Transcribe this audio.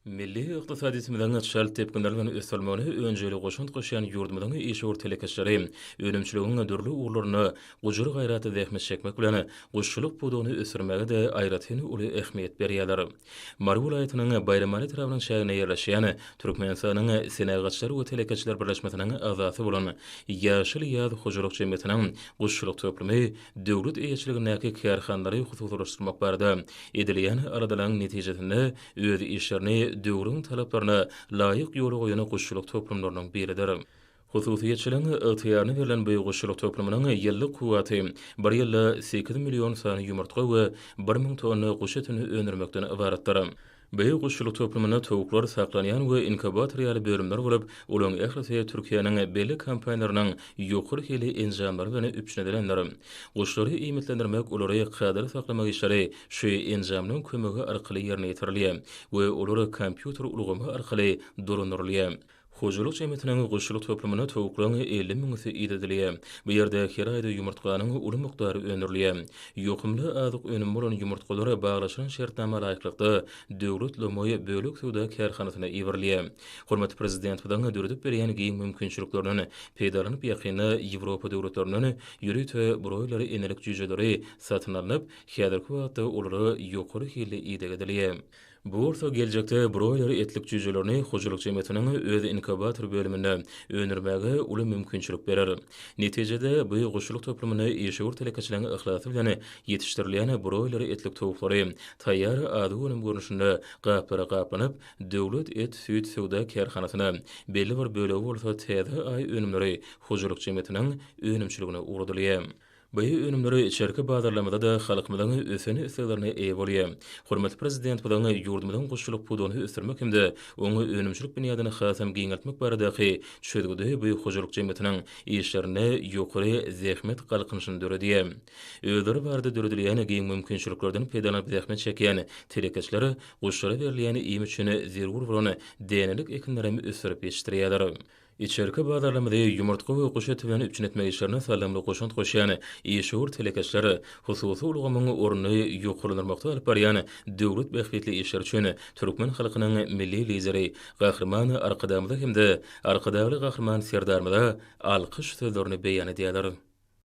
Milli ykdysadyýetimiziň çalt depginler bilen ösdürilmegine önjeýli goşant goşýan ýurdumyzyň işewür telekeçileri önümçiligiň dürli ugurlarynda gujur-gaýratly zähmet çekmek bilen, guşçulyk pudagyny ösdürmäge-de aýratyn uly ähmiýet berýärler. Mary welaýatynyň Baýramaly etrabynyň çäginde ýerleşýän Türkmenistanyň Senagatçylar we telekeçiler birleşmesiniň agzasy bolan Ýaşyl ýaz hojalyk jemgyýetiniň guşçulyk toplumy döwlet eýeçiligindäki kärhanalary hususylaşdyrmak barada edilýän aladalaryň netijesinde öz işlerini döwrüň talaplaryna laýyk ýola goýan guşçulyk toplumlarynyň biridir. Hususyýetçiligiň ygtyýaryna berlen bu guşçulyk toplumynyň ýyllyk kuwwaty bir ýylda sekiz million sany ýumurtga we bir müň tonna guş etini öndürmekden ybaratdyr. Beýik guşçulyk toplumynda towuklar saklanýan we inkubator ýaly bölümler bolup, olaryň ählisi Türkiýäniň belli kompaniýalarynyň ýokary hilli enjamlary bilen üpjün edilendir. Guşlary iýmitlendirmek, olary kadaly saklamak işleri şu enjamlaryň kömegi arkaly ýerine ýetirilýär we olar kompýuter ulgamy arkaly dolandyrylýar. Hojalyk jemgyýetiniň guşçulyk toplumynda towuklaryň elli müňüsi idedilýär. Bu ýerde her aýda ýumurtganyň uly mukdary öndürilýär. Ýokumly azyk önümi bolan ýumurtgalar baglaşylan şertnama laýyklykda Döwlet lomaý bölek söwda kärhanasyna iberilýär. Hormatly Prezidentimiziň döredip berýän giň mümkinçiliklerinden peýdalanyp ýakynda Ýewropa döwletlerinden ýörite broýler enelik jüýjeleri satyn alnyp, häzirki wagtda olara ýokary hilli ideg edilýär. Bu bolsa geljekde broýler etlik jüýjelerini hojalyk jemgyýetiniň öz inkubator bölüminde öndürmäge uly mümkinçilik berer. Netijede, bu guşçulyk toplumynda işewür telekeçileriň yhlasy bilen ýetişdirilýän broýler etlik towuklary taýýar ady önüm görnüşinde gaplara gaplanyp, Döwlet et, süýt söwda kärhanasyna, belli bir bölegi bolsa Täze Aý önümleri hojalyk jemgyýetiniň önümçiligine ugradylýar. Bu önümler içerki bazarlarymyzda-da halkymyzyň ösen isleglerine eýe bolýar. Hormatly Prezidentimiziň ýurdumyzyň guşçulyk pudagyny ösdürmek hem-de oň önümçilik binýadyny hasam giňeltmek baradaky çözgüdi bu hojalyk jemgyýetiniň işlerinde ýokary zähmet galkynyşyny döredýär. Özleri barada döredilýän giň mümkinçiliklerden peýdalanyp zähmet çekýän telekeçiler guşlara berilýän iým üçin zerur bolan dänelik ekinlerem ösdürip ýetişdirýärler. Içerki bazarlarymyzy ýumurtga we guş eti bilen üpjün etmek işlerine saldamly goşant goşýan işewür telekeçiler, hususy ulgamyň ornuny ýokarlandyrmakda alyp barýan döwlet bähbitli işleri üçin türkmen halkynyň Milli Lideri Gahryman Arkadagymyza hem-de Arkadagly Gahryman Serdarymyza alkyş sözlerini beýan edýärler.